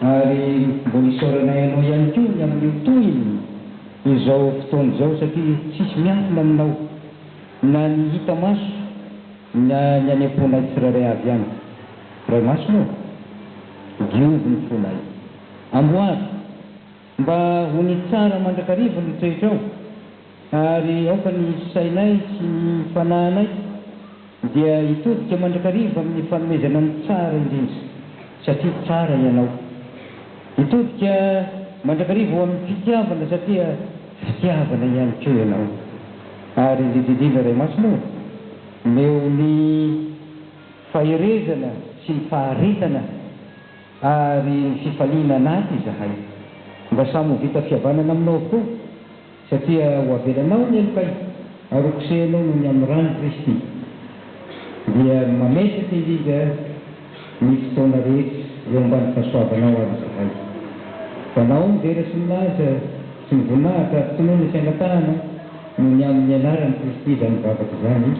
Ary mbola isaoranay anao ihany koa ny amin'ny tohiny izao fotoana izao satria tsisy miafina aminao na ny hita maso na ny any am-ponay tsirairay avy ihany. Ray Masina ô! Diovy ny fonay. Amboary! Mba ho ny tsara mandrakariva no toetrao, ary aoka ny sainay sy ny fanahinay dia hitodika mandrakariva amin'ny fanomezana ny tsara indrindra, satria tsara Ianao. Hitodika mandrakariva ho amin'ny fitiavana, satria fitiavana ihany koa Ianao. Ary indrindra indrindra, Ray Masina ô, omeo ny faherezana sy ny faharetana. Ary ny fifaliana anaty izahay. Mba samy ho vita fihavanana aminao avokoa, satria ho avelanao ny helokay, ary ho kosehinao noho ny amin'ny ran'i Kristy, dia mametraka indrindra ny fotoana rehetra eo ambany fahasoavanao àry izahay. Ho anao ny vera sy ny laza sy ny voninahitra ary finoana sy angatahana noho ny amin'ny anaran'i Kristy izany vavaka izany.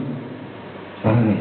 Amen.